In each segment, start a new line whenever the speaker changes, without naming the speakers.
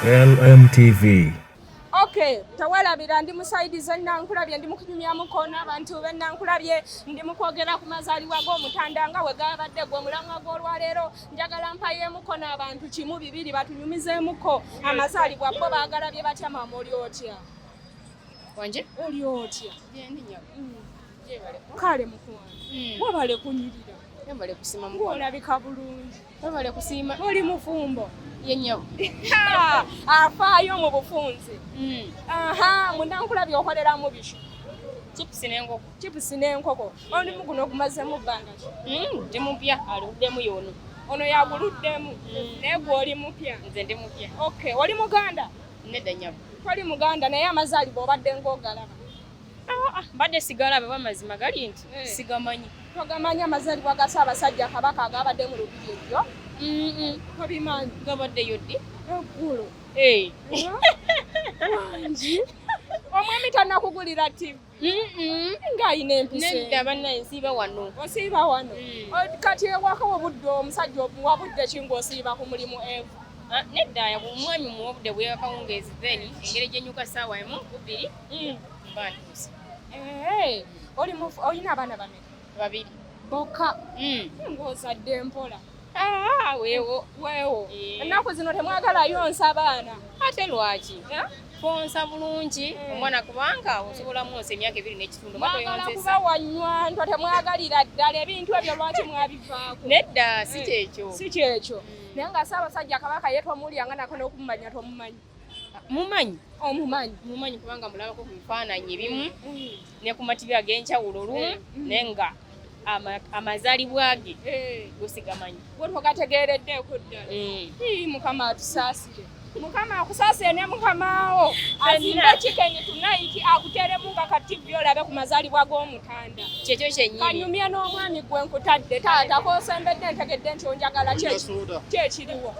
LMTV. Okay,
tawalabira ndi musaidi ze nankulabye ndi mukunyumya mukono abantu be nankulabye ndi mukwogera ku mazaliwa g'omutanda nga we gabadde gwe mulamwa gw'olwaleero njagala mpayeemuko n'abantu kimu bibiri batunyumizeemuko amazaalibwa bo baagalabye batya maama oli otya
wanje oli otya mm.
kale mukwano mm. wabale kunyirira
olabika bulungi
Webale kusiima.
Oli mufumbo.
Ye nnyabo. Afaayo mu bufunze. Mm. Aha, munankula by'okoleramu biki? Chips n'enkoko. Chips n'enkoko. Omulimu guno ogumazeemu bbanga ki? Mm, ndi mupya
aluddemu y'ono. Ono yaguluddemu
mm. naye gwe oli mupya. Nze ndi mupya. Okay,
oli Muganda?
Nedda nnyabo.
Toli Muganda naye
amazaalibwa obadde ng'ogalaba. Ah, ah,
mbadde sigala baba mazima gali nti eh. sigamanyi togamanyi amazalibwa
ga ssaabasajja kabaka agabadde mu lubiri ebyo tobimanyi gabadde yoddi
eggulu
eh. omwami tanakugulira tv ng'alina empisenedda bannaye nsiiba
wano osiiba wano
mm. kati ewaka wobudde omusajja wabudde ki ng'osiiba ku mulimu evu ah, nedda
omwami muwobudde bweyakawungeezi then engeri gyenyuka saawa emu kubiri Mm. Eh,
olina abaana bame babiri
bokka
mm. ngaozadde mpola ah, wewo wewo eh. ennaku zino temwagalayo nsa abaana ate lwaki
eh? fonsa bulungi eh. omwana kubanga osobola mwonsa emyaka ebiri n'ekitundu mwagala kuba
wanywantwa temwagalira ddala ebintu ebyo lwaki mwabivaako nedda si kyekyo
si kyekyo mm. naye nga
saabasajja kabaka ye tomulya nga nako n'okumumanya tomumanyi mumanyi omumanyi
oh, mumanyi kubanga mulabako ku bifaananyi ebimu mm. ne ku matibi ag'enjawulo lumu eh, mm. ne nga amazalibwa ge eh. gusigamanyi gwetwagategeereddeeko
ddala mm. mukama atusaasire mukama akusaasire ne mukamaawo azimba kikenyi tunayiti akuteremu nga kativi olabe ku mazalibwa g'omutanda kyekyo kyenyinianyumya
n'omwami
gwe nkutadde taata kosembedde ntegedde nti onjagala kyekiriwo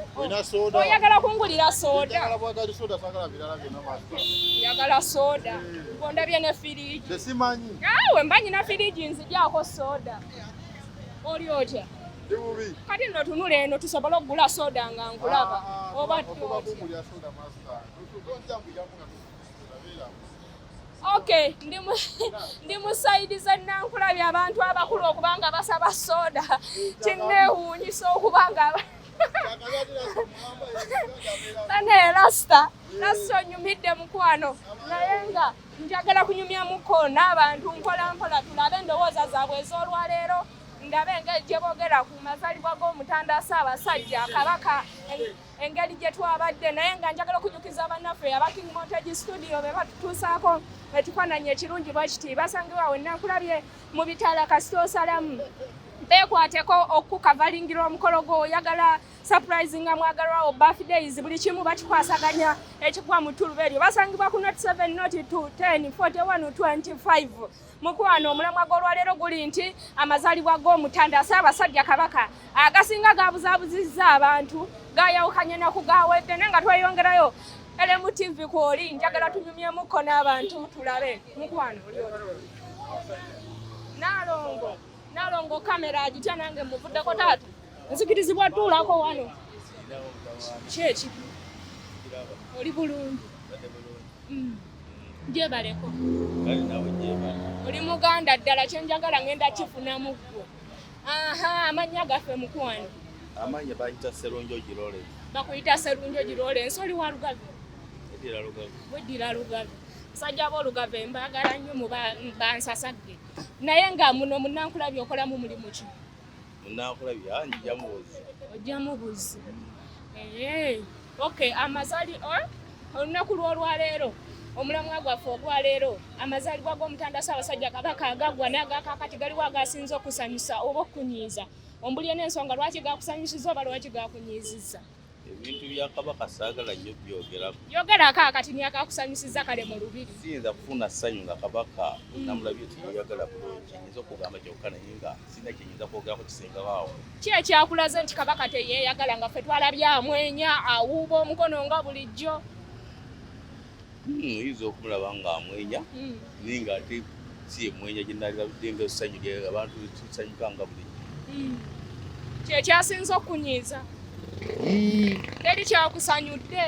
oyagala kungulira soodayagala sooda ngondabye ne firiji awe mba nyina firiji nzigyako sooda oli otya kati no tunula eno tusobole okugula sooda nga nkulaba ah, ah, oba Okay, ndi mu ndi mu side za nankula bya abantu abakulu okubanga basaba soda. Kinne hunyi so okubanga. Tane rasta. Rasta nyumide mkwano. Nayenga njagala kunyumya muko n'abantu nkola nkola tulabe ndowooza zaabwe ez'olwa leero ndabe nga ejje boogera ku mazalibwa g'omutanda Ssaabasajja Kabaka engeri gye twabadde naye nga njagala okujukiza bannaffe aba king montage studio be batutuusaako ekifaananyi ekirungi bwe kiti basangiwa wenna nkulabye mu bitala kasita osalamu beekwateko okukavalingira omukolo gwo oyagala surprise nga mwagalwawo birthdays buli kimu bakikwasaganya ekikuwa mu tuluba eryo basangibwa ku not 7 not 2 10 41 25 mukwano omulamwa gw'olwaleero guli nti amazaalibwa g'omutanda ssaabasajja kabaka agasinga gaabuzabuzizza abantu gayawukanye naku gawedde naye nga tweyongerayo elemu tv kwoli njagala tunyumyemuko n'abantu tulabe mukwano nalongo nalongo kamera agitya nange muvuddeko taata nzikirizibwa tuulako wano kyeki oli bulungi gyebaleko mm. oli muganda ddala kyenjagala ngenda kifunamu ggwe aha amannya gaffe mukwano amannya bayita
serunjo girole bakuyita serunjo
girole ensoli wa lugavi weddira lugavi musajja b'olugavi mbagala nnyo mubansasagge naye nga muno munankulabi okolamu mulimu ki Munankulabira
ah, njija mubuzi.
Ojja mubuzi. Eh. Okay, amazali or eh? olunaku lw'olwaleero omulamwa gwaffe ogwaleero amazaalibwa g'omutanda ssaabasajja kabaka agaggwa n'agakakati galiwo agasinza okusanyusa oba okukunyiiza ombulye n'ensonga lwaki gakusanyusiza oba lwaki gakunyiizizza ebintu bya
kabaka saagala nnyo byogerako yogerako akati
niyakakusanyusiza kale mu lubiri siyinza kufuna ssanyu
nga kabaka mm. namulabye nti yoyagala bulungi nyinza okugamba kyokka naye nga sirina kyenyinza kwogerako kisengabaawo ki ekyakulaze
nti kabaka teyeyagala nga ffe twalabye amwenya awuuba omukono nga bulijjo Hmm,
oyinza okumulaba ng'amwenya hmm. naye ng'ate si yemwenya gye nalirabidde nga essanyu lye abantu tusanyuka nga buli hmm.
kye kyasinza okunyiiza teri kyakusanyudde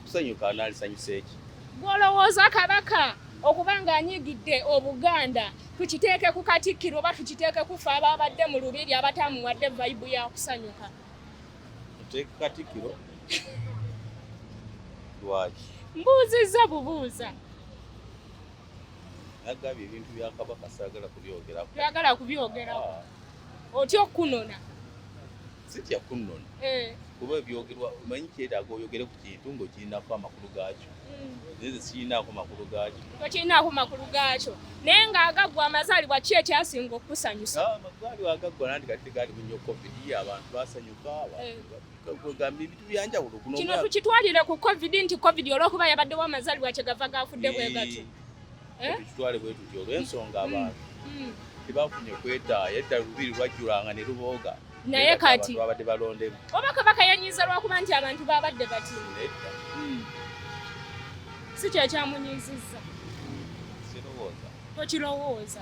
kusanyuka analisanyusa eki gwolowooza
kabaka okuba ng'anyigidde obuganda tukiteeke ku katikkiro oba tukiteeke kufa abaabadde mu lubiri abatamuwadde vayibu ya kusanyuka Take
Katikiro. Lwaki? Mbuuzizza
bubuuza.
Nagambye ebintu bya Kabaka saagala kubyogerako. Byagala kubyogerako.
Ah. Otya okunona? Sitya
kunona. Eh. Kuba ebyogerwa omanyi kyetaaga oyogere ku kintu ng'okirinako amakulu gaakyo. nze sirinaako makulu gaakyo tokirinaako makulu
gaakyo naye ng'agaggwa amazaalibwa ki ekyasinga okukusanyusa ah, amazaalibwa agaggwa
nandi kati tegaali bunyo covid abantu basanyuka eh. ebintu byanjawulo kino tukitwalire
ku covid nti covid olwokuba yabaddewo amazaalibwa kyegava gaafudde bwe gatyo eh, eh? tukitwale
bwe tutyo olw'ensonga mm, abantu mm. tebafunye kwetaaya edda lubiri lwajjulanga ne lubooga naye kati
babadde balondemu
oba kabaka yanyiza
lwakuba nti abantu babadde bati hmm. si kyekyamunyiziza sirowooza
tokirowooza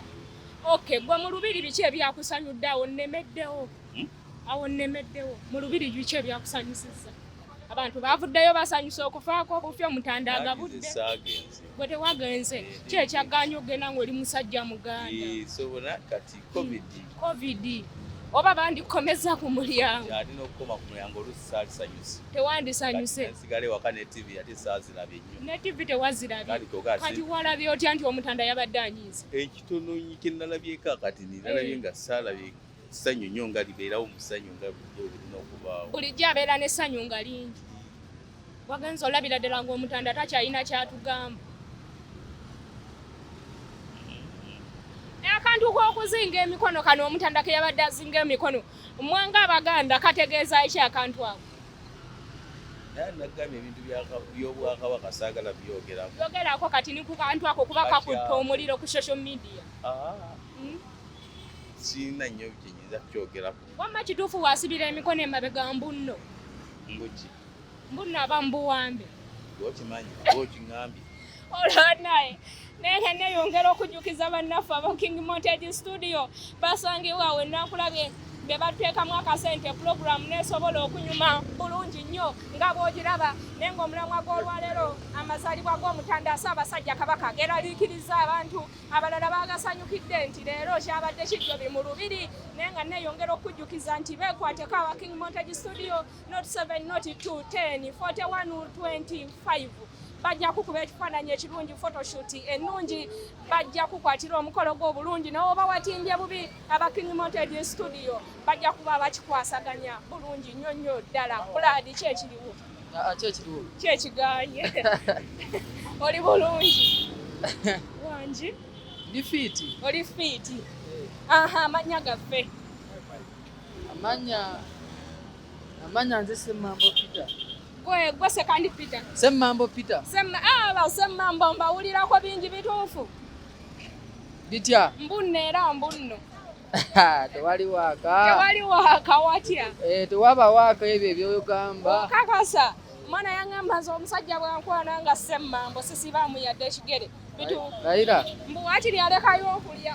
ok gwe mu lubiri biki ebyakusanyudde awo nemeddewo hmm? awo nemeddewo mu lubiri biki ebyakusanyusiza abantu bavuddeyo basanyusa okufaako obufyo mutanda agabudde gwe tewagenze ki ekyaganya okugenda ngaoli musajja muganda sobona kati
covid covid oba
bandikomeza ku mulyango alina okukoma ku mulyango
olusi saalisanyusi tewandisanyuse
sigale waka ne
tv ate saazirabye nnyo ne tv tewazirabye
kati walabye otya nti omutanda yabadde anyiiza ekitono kye
nalabyeko akati nalabye nga saalabye ssanyu nnyo nga libeerawo mu ssanyu nga bulijjo olina okubaawo bulijjo abeera n'essanyu
nga lingi wagenza olabira ddala ng'omutanda takyalina kyatugamba akantu k'okuzinga emikono kano omutanda ke yabadde azinga emikono mwanga abaganda kategeeza eki akantu ako nagambye
ebintu byobwakabaka saagala byogerako
kati nikukantu ako kuba kakutte omuliro ku social media ah. hmm?
sirina nnyo kye nyinza kukyogerako. Wamma kituufu
waasibira emikono emabega mbunno? Mbuki? Mbunno aba mbuwambe. Okimanyi
oba okingambye? Olaba
naye naye nga neyongera okujjukiza bannaffe aba King Montage Studio basangibwa we nakulabye be batuteekamu akasente pulogulaamu nesobola okunyuma bulungi nnyo nga bwogiraba naye ngaomulamwa gw'olwaleero amazaalibwa g'omutanda asabasajja kabaka geraliikiriza abantu abalala bagasanyukidde nti leero kyabadde kijjobi mu lubiri naye nga neyongera okujjukiza nti bekwateko awa king montage studio not 7 not 2 10 41 25 bajja kukuba ekifaananyi ekirungi photoshoot ennungi bajja kukwatira omukolo gw'obulungi newoba watimbye bubi aba king montage studio bajja kuba bakikwasaganya bulungi nnyo nnyo ddala bulaadi kyekiriwo Ah, kyekigaanye oli bulungi wangi ndi
fiiti oli fiiti
eh. aha amannya gaffe
amannya amannya nze semambo peter gwe
sekandi peter semambo peter
aba ah, semambo
mbawulirako bingi bituufu
bitya mbunno era
mbunno tewali
waaka tewali waaka watya eh,
tewaba waaka
ebyo ebyoyogamba kakasa
omwana yangamba nze omusajja bwankwana nga semmambo sisibaamu yadde ekigere bitulayira
mbu wakiri
alekayo okulya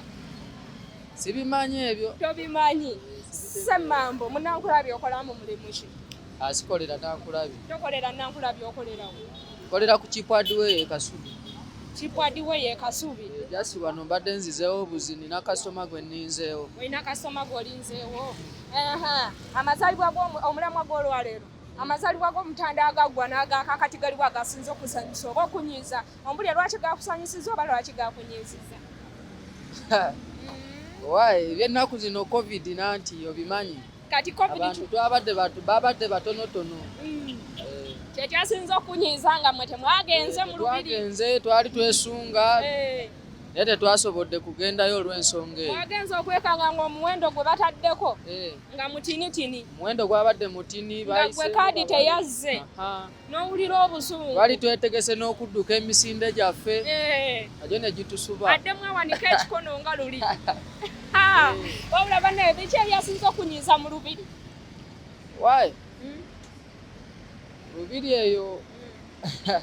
sibimanyi ebyo tobimanyi
semmambo munankulabye okolamu mulimu ki Asikolera
nankulabi. Tokolera nankulabi
okolera wo. Kolera ku
kipwadiwe ye kasubi. Kipwadiwe ye kasubi. Eh, just wano mbadde nzizeewo buzi nina kasoma gwe ninzeewo. Olina kasoma gwe
olinzeewo. Aha. Amazalibwa gwo omulamwa gwo olwaleero. Amazalibwa gwo mutanda agagwa naga kakati galiwa gasinzo kusanyisa oba okunyiza. Ombulya lwaki gakusanyisiza oba lwaki gakunyiziza.
Why? Ebyennaku zino covid nanti obimanyi. kati abantu
twabadde
batu babadde batonotono mm.
eh. kyekyasinza okunyiiza nga mwe temwagenze eh, mulubiritwagenze twali
twesunga eh. naye tetwasobodde kugendayo olw'ensonga eyo wagenze okwekanga nga
omuwendo gwe bataddeko nga mutinitini omuwendo gwabadde
mutini gwe kaadi
teyazze n'owulira obusungu bali twetegese
n'okudduka emisinde gyaffe nagyo eh. ne gitusuba addemu awanika
ekikono nga luli eh. wabula banaye biki ebyasinza okunyiiza mu lubiri wayi
hmm? lubiri eyo hmm.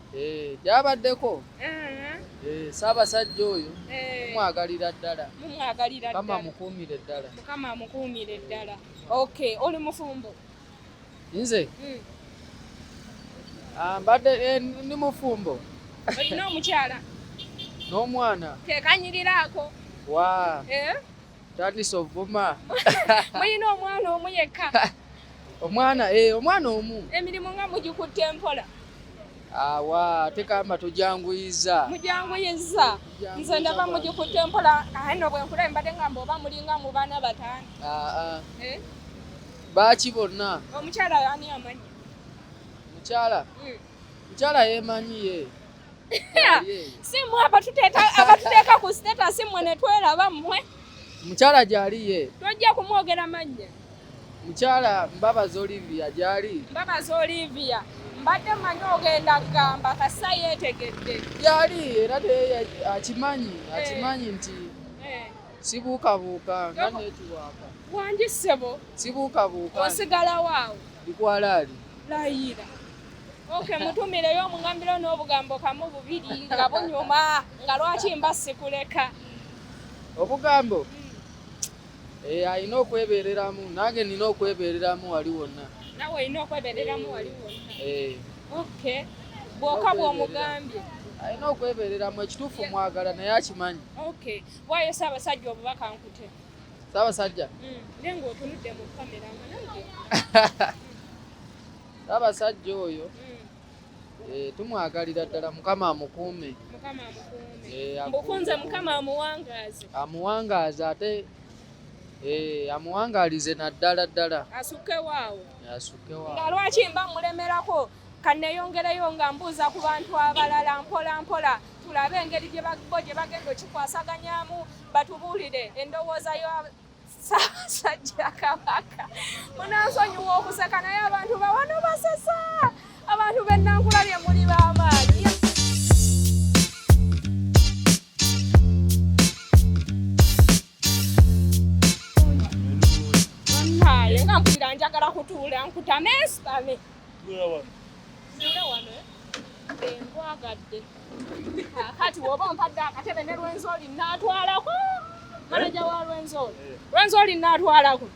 Eh, gyabaddeko eh. eh, ssaabasajja oyo mumwagalira ddala mukama mukuumire ddala mukama mukuumire
ddala ok oli mufumbo nze
hmm. ah, mbadde ndi mufumbo olina
omukyala n'omwana
tekanyiriraako
wa
tandise ovuma muyina
omwana omu yekka omwana
eh, omwana omu emirimu nga mugikutte
empola awa
tekamba tujanguyiza mujanguyiza
nze ndaba mugikutte mpola aye no bwenkula mbadde ngamba oba mulinga mu baana batano aa eh?
baaki bonna omukyala ani
amanyi mukyala hmm.
Njala yemanyi ye.
Si mwe abatuteeka abatuteeka ku status mwe ne tweraba mwe. Mukyala
gyali ye. Tojja kumwogera
mannya. Mukyala
Mbabazi Olivia gyali. Mbabazi Olivia.
Mbadde manyi ogenda kugamba kasa yeetegedde. Gyali era
naye akimanyi eh. akimanyi nti eh. sibuukabuuka nga neetuwaaka. Wangi ssebo.
Sibuukabuuka.
Osigalawo awo.
Ndikwalaali.
Layira.
Okay, mutumireyo omungambiro n'obugambo kamu bubiri nga bunyuma nga lwaki mba sikuleka
obugambo hmm. eh, alina okwebereramu nange nina okwebereramu wali wonna nawe olina okwebereramu
wali wonna eh. okay bwoka bwomugambye alina
okwebereramu ekituufu mwagala naye akimanyi okay waayo
saabasajja obubaka nkute saabasajja
hmm. naye
ngaotunudde mu kamera nga nange
Abasajja oyo hmm. eh, tumwagalira ddala mukama amukuume
eh, mbukunze mukama amuwangaaze amuwangaaze
ate eh, amuwangalize naddala ddala asukewaawo
asukewaawo nga
lwaki mba
mulemerako kaneyongereyo nga mbuuza ku bantu abalala mpola mpola tulabe engeri gyebagbo gye bagenda okikwasaganyamu batubuulire endowooza Ssaabasajja Kabaka munansonyiwa okuseka naye abantu bawano basesa abantu bennankula lye muli b'amaanyi naye nga mpulira njagala kutuula nkutame nsitame eh? nkwagade kati woba ompadde akatebe ne lwenzoli natwalako manaja wa lwenzoli eh. lwenzoli natwalako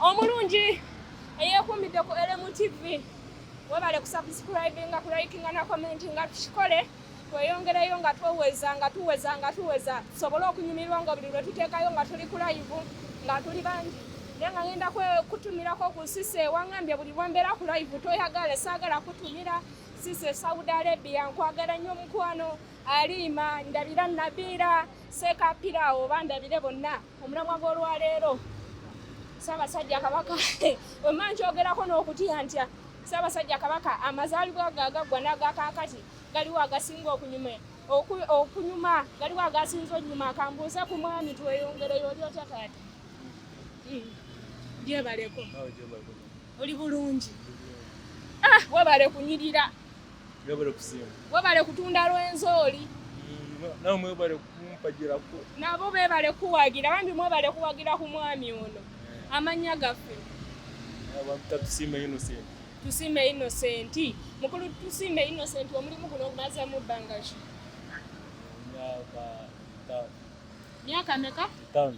omulungi eyeekuumidde ku elemu tv webale kusubscribinga kulikinga na commentinga tukikole tweyongereyo nga tweweza nga tuweza nga tuweza tusobole okunyumirwa nga buli lwe tuteekayo nga tuli kulayivu nga tuli bangi Naye nga ngenda kutumirako ku sise wangambye buli lwambeera ku live toyagala saagala kutumira sise Saudi Arabia nkwagala nnyo mukwano aliima ndabira nabiira seekapira oba ndabire bonna omulamwa gw'olwaleero Ssaabasajja Kabaka wemma nkyogerako n'okutya ntya Ssaabasajja Kabaka amazaalibwa ge agaggwa n'agakaakati galiwo agasinga okunyuma okunyuma galiwo agasinza onyuma kambuuze ku mwami tweyongereyo oli otya taata Gyebaleko. Oli bulungi. Ah, webale kunyirira. Webale kusiima. Webale kutunda lwenzooli. Mm, nawe
mwebale kumpagirako. Nabo bebale
kuwagira bambi mwebale kuwagira ku mwami ono. Eh. Amanya gaffe. Abantu tusiima Innocent. Tusiima Innocent. Mukulu tusiima Innocent omulimu guno ogumaze mu bbanga ki? Myaka meka? Tano.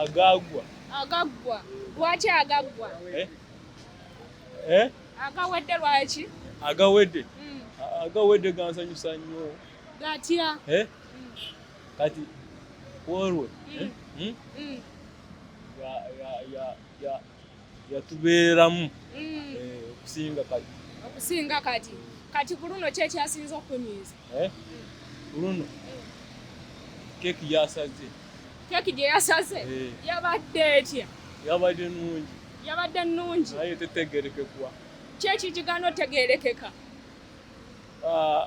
agaggwa agaggwa
lwaki agaggwa eh? Eh? agawedde lwaki agawedde
hmm. agawedde gansanyusa nnyo gatya
eh? hmm.
kati olwe hmm. yatubeeramu mm. eh, okusinga kati okusinga kati kati ku luno ki ekyasinza okukunyiiza eh? ku luno keeki yasaze keeki gye yasaze eh. yabadde etya yabadde nungi yabadde nungi naye tetegerekekwa kyeki kigana otegerekeka ah,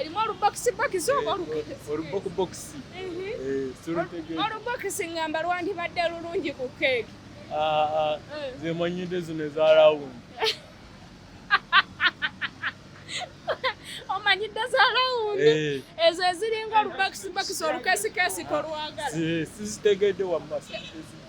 Erimu olubokisibokisi oba olubokubokisi? Olubokisi ngamba lwandibadde lulungi ku keeki. Ah, ah. eh. Nze manyidde zino eza rawundi. Omanyidde za rawundi eh. ezo eziringa olubokisibokisi olukeesikesiko lwagala. Sizitegedde wamma.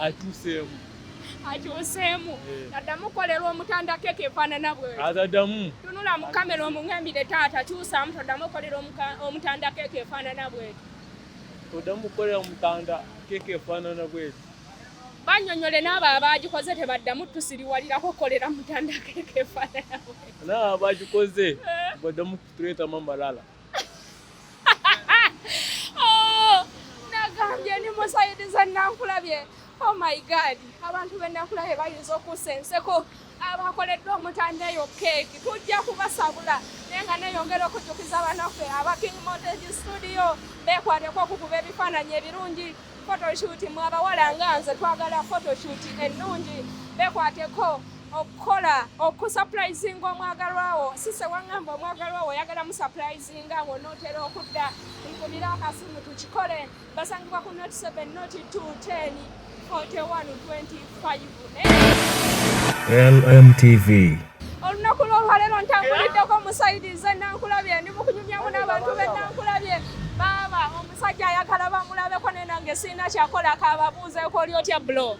akyuseemu akyuseemu eh. addamu kukolerwa omutanda keeka efaanana bwe adadamu tunula mu kamera omungambire taata kyusaamu toddamu okukolera omutanda keeka efaanana bweti toddamu kukolera omutanda keeka efaanana bweti banyonyole n'abo abaagikoze tebaddamu tusiriwalirako kukolera mutanda keeka efaanana bweti n'abo abaagikoze eh. baddamu kutuleetamu amalala Oh, nagambye ni musayiriza nankulabye oh my god abantu benakulabye bayinza okusa enseko abakoleddwa omutanda eyo keeki tujja kubasabula naye nga neyongera okujjukiza abanaffe aba king montage studio bekwateko okukuba ebifaananyi ebirungi photoshoot mwabawala nga nze twagala photoshoot ennungi bekwateko okukola okusupurayizinga omwagalwawo sise wangamba omwagalwawo oyagala musupurayizinga nga onootera okudda nkubira akasimu tukikole basangibwa ku not 7 not 2 10 41 25 lmtv
olunaku
lwolwaleero ntambuliddeko musaidize nankulabye ndi mukunyumyamu n'abantu be nankulabye baaba Omusajja ayagala bamulabeko naye nange sirina kyakola kababuuzeeko oli otya bulo.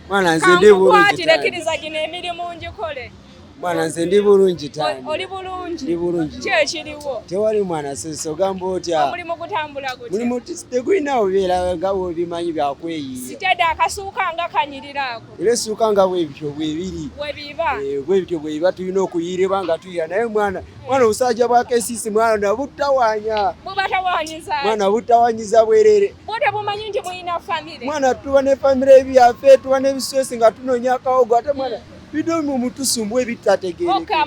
Mwana nze ndi
bulungi. Kankukwatire kiriza gino
emirimu ngikole. Mwana nze ndi
bulungi taani. Oli bulungi. Ndi
bulungi. Kye
kiriwo.
Tewali mwana sisi
ogamba otya. Omulimu gutambula gutya.
Mulimu tegulina
obeera nga bw'obimanyi bya kweyiiya. Sitede akasuuka
nga kanyirira ako. era essuuka nga
bwebityo bwebiri eh,
bwebityo bwebiba
tulina okuyiireba nga tuyira naye mwana mwana obusajja bwa kesisi mwana nabutawanya
mwana butawanyiza
bwerere
mwana tuba ne famire
ebyafe tuba nebisosi nga tunonya akawogo ate mwana bidomu mutusumbu ebitategeereka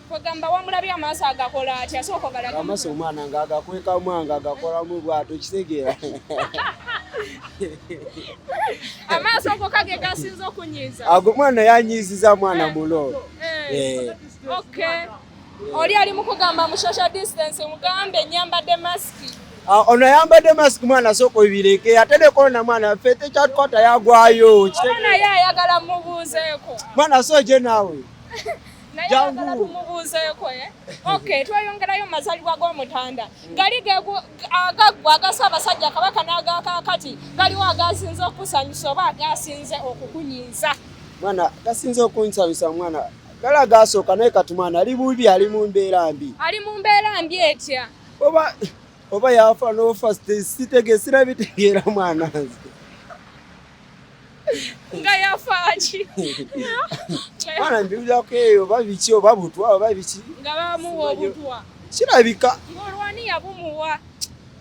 kwegamba wamulabye amaaso agakola ati asooka ogalaga amaaso omwana nga
agakwekamu anga agakolamu bwato kitegeera
amaaso go kage gasinza okunyiiza ago mwana yanyiiziza
mwana eh, mulo eh. Eh.
okay oli ali mukugamba mu social distance mugambe nyambadde masiki ah, ono ayambadde
masiki mwana sooka obireeke ate ne korona mwana ffe tekyatukwata yagwayo naye ayagala
mubuuzeeko mwana sooje
naawe
tumubuuzeeko eh? okay tweyongerayo mazalibwa g'omutanda gali agaggwa agasa abasajja kabaka n'agakakati galiwo agasinze okusanyusa oba agasinze okukunyiiza mwana
gasinze okunsanyusa mwana gali agasooka naye kati mwana ali bubi ali mu mbeera mbi ali mu mbeera mbi
etya oba
oba yafa n'ofa sitegee sirabitegeera mwana nze
nga yafaaki
bana mbiwulirako eyo oba biki oba butwa oba biki nga bamuwa
obutwa kirabika
ng'olwani yabumuwa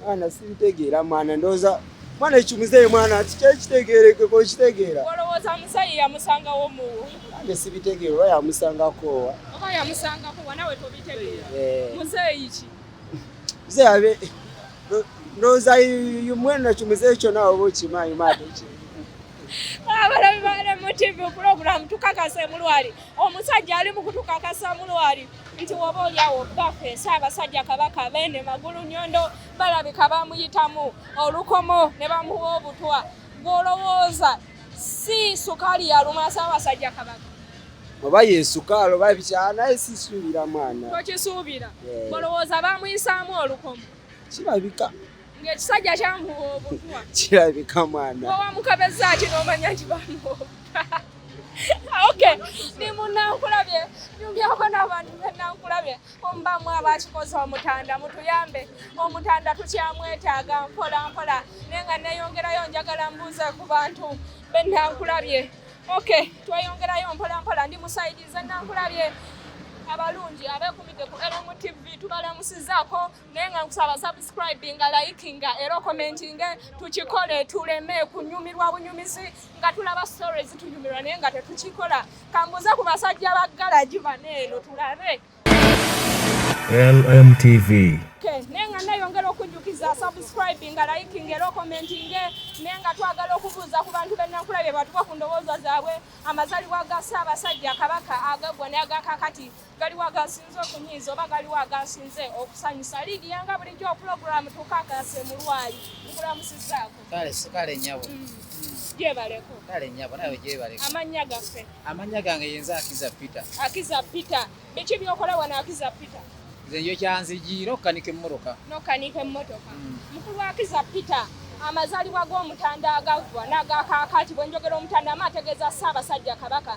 mwana
sibitegeera mwana ndowooza mwana ekimuzeeyo mwana tikyekitegeerekeko kitegeera olowooza musayi
yamusangawo muwo nange sibitegeera
oba yamusangakoowa oba yamusangakowa
nawe tobitegeera eh. muzeeyi ki mzee
ndoza yumwena chumzee chona obo chimayi mate
abalabi bale mu tv program tukakase mulwali omusajja ali mukutukakasa mulwali nti woba olyawo bafe esaabasajja kabaka bene magulu nyondo balabika bamuyitamu olukomo ne bamuwa obutwa gwolowooza si sukaali yaluma Ssaabasajja Kabaka oba
yesukaali oba bikyala naye sisuubira mwana tokisuubira
olowooza eh. bamuyisaamu olukomo kirabika
ng'ekisajja
kyamuwa obutwa kirabika mwana
owamukabezza ati
n'omanya nti bamuwa ok ndi munankulabye nyumbyako n'abantu benankulabye mbamu abakikoze omutanda mutuyambe omutanda tukyamwetaaga mpola mpola naye nga neyongerayo njagala mbuuze ku bantu benankulabye ok tweyongerayo mpola mpola ndi musaidize nankulabye abalungi abekumidde ku lmtv tubalamusizaako naye nga nkusaba subscribinga likinga era okomentinge tukikole tuleme kunyumirwa bunyumizi nga tulaba story zitunyumirwa naye nga tetukikola kambuze ku basajja ba galagi bane eno tulabe
LMTV naye nga
nayongera okujjukiza subscribinga likinga era okomentinge naye nga twagala okubuuza ku bantu benakula bye batuka ku ndowooza zaabwe amazalibwa ga ssaabasajja kabaka agagwa naye agakakati galiwo agasinze okunyiiza oba galiwo agasinze okusanyusa liigi yanga bulijjo opulogulaamu tukakase mu lwali nkulamusizaako kale sikale nyabo
mm. gyebaleko
kale nyabo
nawe gyebaleko amannya gaffe
amannya gange yenza
akiza peter akiza peter
biki byokola wano akiza peter nze njo
kyanzigiira okukanika emmotoka nokanika emmotoka
mm. mukulu akiza peter amazalibwa g'omutanda agaggwa n'agakaakaati bwe njogera omutanda ama ategeeza ssaabasajja kabaka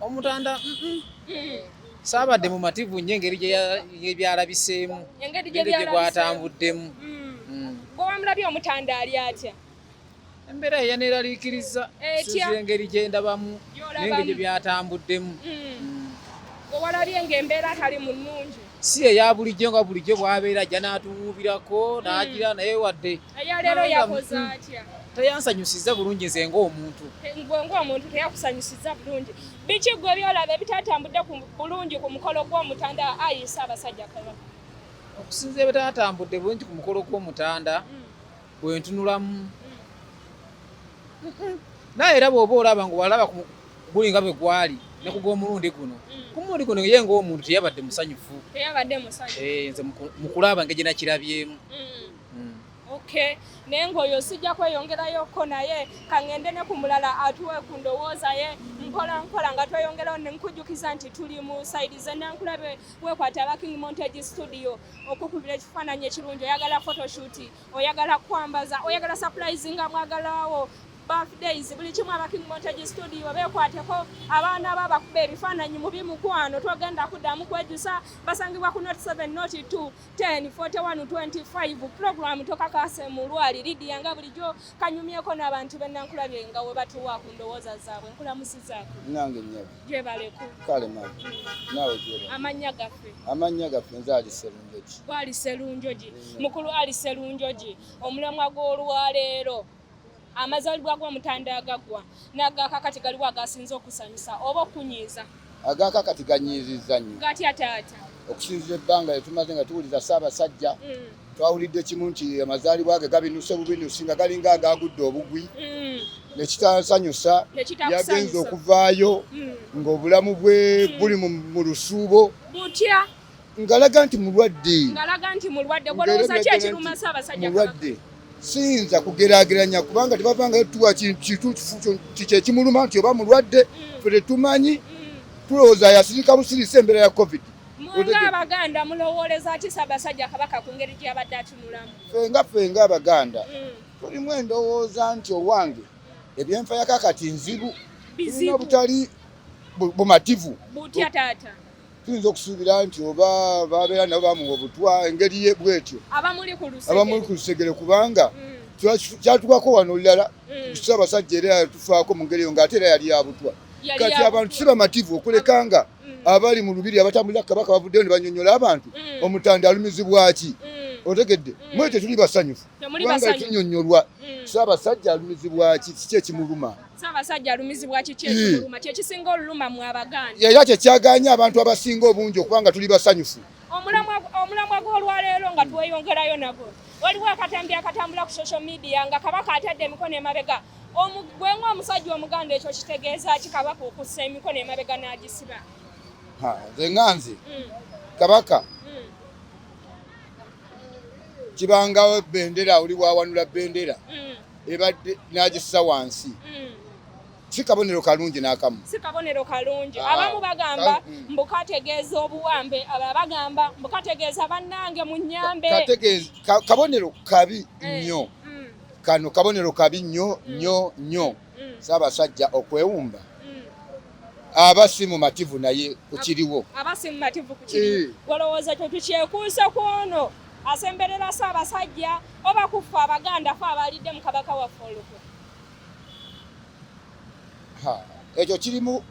omutanda saabadde mumativu nnyo engeri gyeyalabiseemu engeri gyegwatambuddemu hmm. hmm.
gwewamulabye omutanda ali atya embeera
yeyaneeraliikiriza siza engeri gyendabamu nengeri gyebyatambuddemu hmm.
owalabye nga embeera tali mu nnungi si eya bulijjo
nga bulijjo bwabeera ajja n'atuwuubirako n'agira naye wadde eyaleero
yakoze atya teyansanyusiza
bulungi nze ngaomuntu gwe ngaomuntu
teyakusanyusiza bulungi biki gwe byolaba ebitatambudde bulungi ku mukolo gw'omutanda ayisa abasajja kaba okusinza
ebitatambudde bulungi ku mukolo gw'omutanda mm. bwentunulamu mm. naye era bwoba olaba nga walaba guli nga bwe gwali ne ku gw'omulundi guno mm. ku mulundi guno ye ngaomuntu teyabadde musanyufu teyabadde musanyufu
eh, nze mukulaba
ngegye nakirabyemu mm.
okay naye ngaoyo sijja kweyongerayoko naye kangende ne ku mulala atuwe ku ndowooza ye mpola mpola nga tweyongerawo nenkujjukiza nti tuli mu saidi zenankulabe wekwata aba king montage studio okukubira ekifaananyi ekirungi oyagala photoshoot oyagala kwambaza oyagala surprise nga mwagalawo birthdays buli kimu aba king montage studio bekwateko abaana ba bakuba ebifaananyi mu bimukwano twogenda kuddamu kwejusa basangibwa ku not 7 not 2 10 41 25 program tokakase mu lwali lidiya nga bulijjo kanyumyeko n'abantu bennankulabye nga we batuwa ku ndowooza zaabwe nkulamusizaako nange nnyabo
gyebaleko
kale mama
naawe gyeba amannya gaffe amannya
gaffe nze ali serunjogi
gwali serunjogi
mukulu ali serunjogi omulamwa gw'olwaleero amazalibwa g'omutanda agaggwa n'agaakakati galiwo agasinza okusanyusa oba okunyiiza agaakakati
ganyiizizza nnyo gatya taata
okusinzira ebbanga
lyetumaze nga tuwuliza ssaabasajja mm. twawulidde kimu nti amazaalibwa ge gabinuse bubinusi nga galinga agaagudde obugwi mm. nekitasanyusa yagenza okuvaayo mm. ng'obulamu bwe buli mu lusuubo butya
ngalaga nti
mulwadde ngalaga nti mulwadde
kolowooza ki ekiruma ssaabasajja mulwadde
siyinza kugerageranya kubanga tebavangayo tuwa kintu kyekimuluma nti oba mulwadde mm. fe tetumanyi mm. tulowooza yasirika busirisa embeera ya covid abaganda
mulowooleza ki ssaabasajja kabaka ku ngeri gyeyabadde atunulamu fenga fenga
abaganda mm. tulimu endowooza nti owange ebyenfayakakati nzibu tulina obutali bumativu butya taata
tuyinza okusuubira
nti oba babeera nabo bamuwa obutwa engeri ye bwetyo abamuli ku lusegere kubanga mm. kyatukako wano olulala kusa mm. abasajja era yatufaako mu ngeri eyo ngaate era yali yabutwa kati abantu si bamativu okuleka nga mm. abali mu lubiri abatambulira ku kabaka bavuddeyo ne banyonyola abantu omutanda alumizibwaki otegedde mwekyo tuli basanyufu kubanga tunyonyolwa si abasajja alumizibwaki kiki ekimuluma Ssaabasajja alumizibwa
kiki ekimuluma kye kisinga oluluma mu Abaganda? Era kye kyagaanye
abantu abasinga obungi okuba nga tuli basanyufu. Omulamwa
gw'olwaleero nga tweyongerayo nagwo, waliwo akatambi akatambula ku social media nga Kabaka atadde emikono emabega. Gwe ng'omusajja Omuganda ekyo kitegeeza ki Kabaka okussa emikono emabega n'agisiba? Nze
nga nze mm. Kabaka mm. kibangawo bendera oli wawanula bendera mm. ebadde n'agissa wansi mm. si kabonero kalungi n'akamu si kabonero kalungi ah,
abamu bagamba mm. mbu kategeeza obuwambe aba bagamba mbu kategeeza bannange mu nnyambe kabonero
kabi eh, nnyo mm. kano kabonero kabi nnyo nnyo nnyo saabasajja okwewumba aba si mumativu naye kukiriwo aba si mumativu kukiriwo eh.
olowooza kyo tukyekuusa kwono asemberera Ssaabasajja oba kuffe Abaganda fe abaalidde mu Kabaka waffe olukwe?
Ekyo kiri mu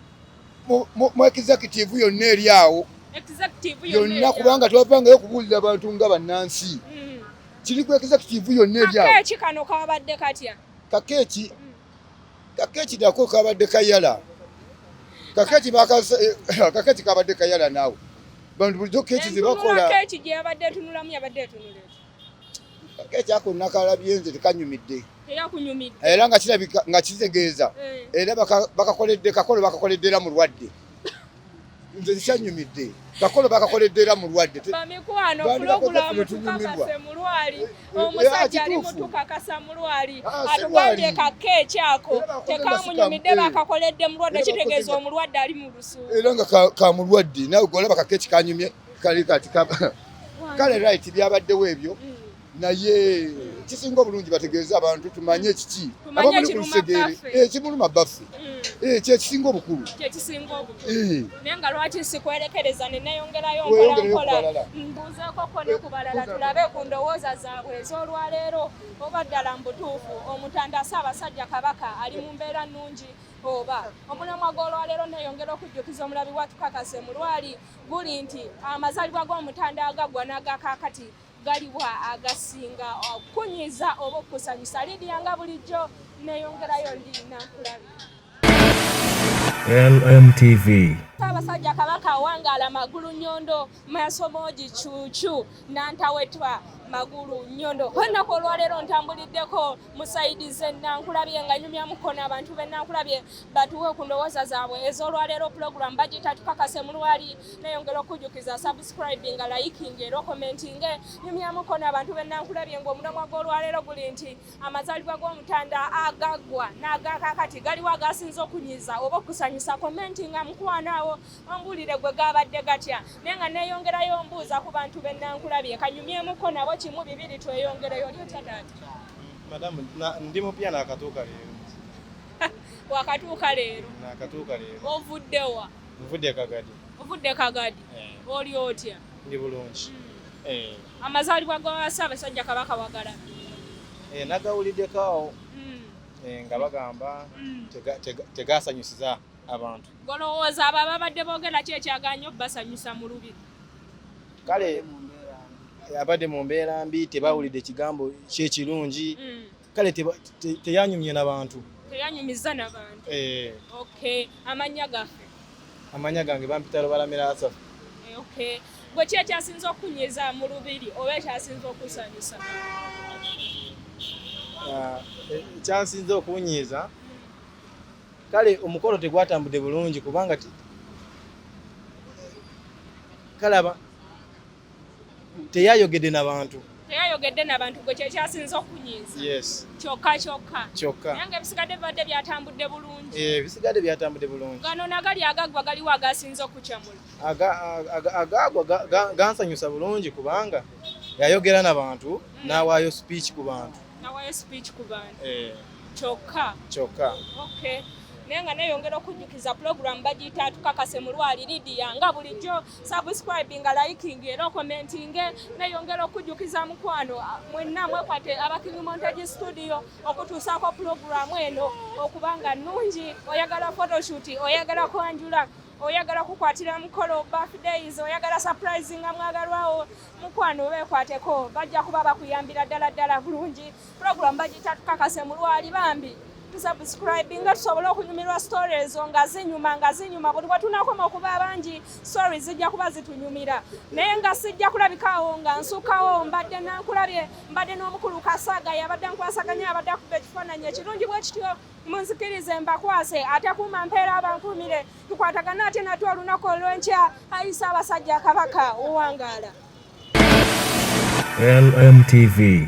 executive yonna eri awo yonna kubanga twavangayo okubuulira abantu nga bannansi mm. kiri ku executive yonna eri awo. Kakeeki kano kabadde
katya? Kakeeki
kaketi dako kabadde kayala kaketi kaketi kabadde kayala naawe bantu bulijjo keki zebakola keki gyeyabadde
etunulamu yabadde etunula
kaketi ako nakalabye nze tekanyumidde
era nga kirabika
nga kitegeeza eh. era bakakoledde kakolo bakakoledde era mulwadde nze nkyanyumidde kakolo bakakoledde era mulwadde bamikwano
pulogulamu tukakase mulwali eh, eh, omusajja eh, ali mutukakasa mulwali ah, ah, atugambye kakke ekyako tekamunyumidde bakakoledde mulwadde kitegeeza omulwadde ali mu lusu era nga kamulwadde
nawe golaba kakke ekikanyumye kali kati kale right byabaddewo ebyo mm. naye kisinga obulungi bategeeze abantu tumanye kiki abamuli ku lusegere ekimuluma baffe kyekisinga obukulu
oba ddala mu butuufu omutanda ssaabasajja kabaka ali mu mbeera nnungi oba omulamwa gw'olwaleero neeyongera okujjukiza omulabi wa tukakase mu lwali guli nti amazalibwa g'omutanda agaggwa n'agakaakati galiwa agasinga okunyiza oba okusanyusa lidiya nga bulijjo neyongerayo ndi nankulabi
LMTV Ssaabasajja Kabaka
awangaala magulu nyondo masomoji cucu nantawetwa magulu nyondo olunaku olwaleero ntambuliddeko musaidize nankulabye nga nyumya mukona abantu be nankulabye batuwe ku ndowooza zaabwe ez'olwaleero pulogulamu bagita tukakase mu lwali neyongera okujjukiza subscribinga layikinga era okomentinge nyumya mukona abantu be nankulabye ng'omulamwa gw'olwaleero guli nti amazaalibwa g'omutanda agaggwa n'agakakati galiwo agasinza okunyiza oba okusanyusa komentinga mukwanaawo ombulire gwe gaabadde gatya naye nga neeyongerayo ombuuza ku bantu be nankulabye kanyumyemuko nabo kimu bibiri tweyongereyo oli
otya
taata madamu ndi mupya
nakatuuka
leero wakatuuka leero nakatuuka leero
ovudde wa
nvudde kagadi
ovudde kagadi
eh. oli otya ndi bulungi hmm.
eh.
amazaalibwa ga ssaabasajja kabaka wagala eh,
nagawuliddeko awo hmm. nga bagamba hmm. tegasanyusiza abantu Golowooza abo
ababadde boogera ki ekyagaanye obbasanyusa mu lubiri? Kale
abadde mu mbeera mbi tebawulidde kigambo kyekirungi mm. kale teyanyumye nabantu teyanyumiza
nabantu eh. okay amanya gaffe amanya gange
bampita lubalamira asafu eh, okay
gwe ki ekyasinza okunyiza mu lubiri oba ekyasinza okusanyusa
ah, eh, ekyasinza okunyiza kale omukolo tegwatambudde bulungi kubanga kalaba teyayogedde na bantu teyayogedde na bantu
gwe kyekyasinza okunyiza kyokka
kyokka kyokka
naye nga ebisigadde bibadde byatambudde bulungi eh, ebisigadde byatambudde
bulungi gano nagali agaggwa
galiwo agasinza okucamula
agaagwa gansanyusa bulungi kubanga yayogera na bantu mm. n'awaayo speech ku bantu nawayo speech ku bantu eh. kyokka kyokka okay
naye nga neyongera okujjukiza pulogulamu bagiyita atukakase mulwali lidia nga bulijjo subscribinga liking era okomentinge neyongera okujjukiza mukwano mwenna mwekwate abakingimontage studio okutuusaako pulogulamu eno okubanga nungi oyagala photoshoot oyagala kwanjula oyagala kukwatira mukolo birthdays oyagala surprise nga mwagalwawo mukwano bekwateko bajja kuba bakuyambira ddala ddala bulungi program bagiyita tukakase mulwali bambi tusubscribe nga tusobole okunyumirwa story ezo nga zinyuma nga zinyuma buli wetunakoma okuba abangi story zijja kuba zitunyumira naye nga sijja kulabikaawo nga nsukawo mbadde nankulabye mbadde n'omukulu kasaaga yabadde nkwasaganya abadde akuba ekifaananyi ekirungi bwekityo munzikirize mbakwase atakuuma mpeera abankuumire tukwatagana ate nate olunaku olwenkya ayisa abasajja kabaka owangaala LMTV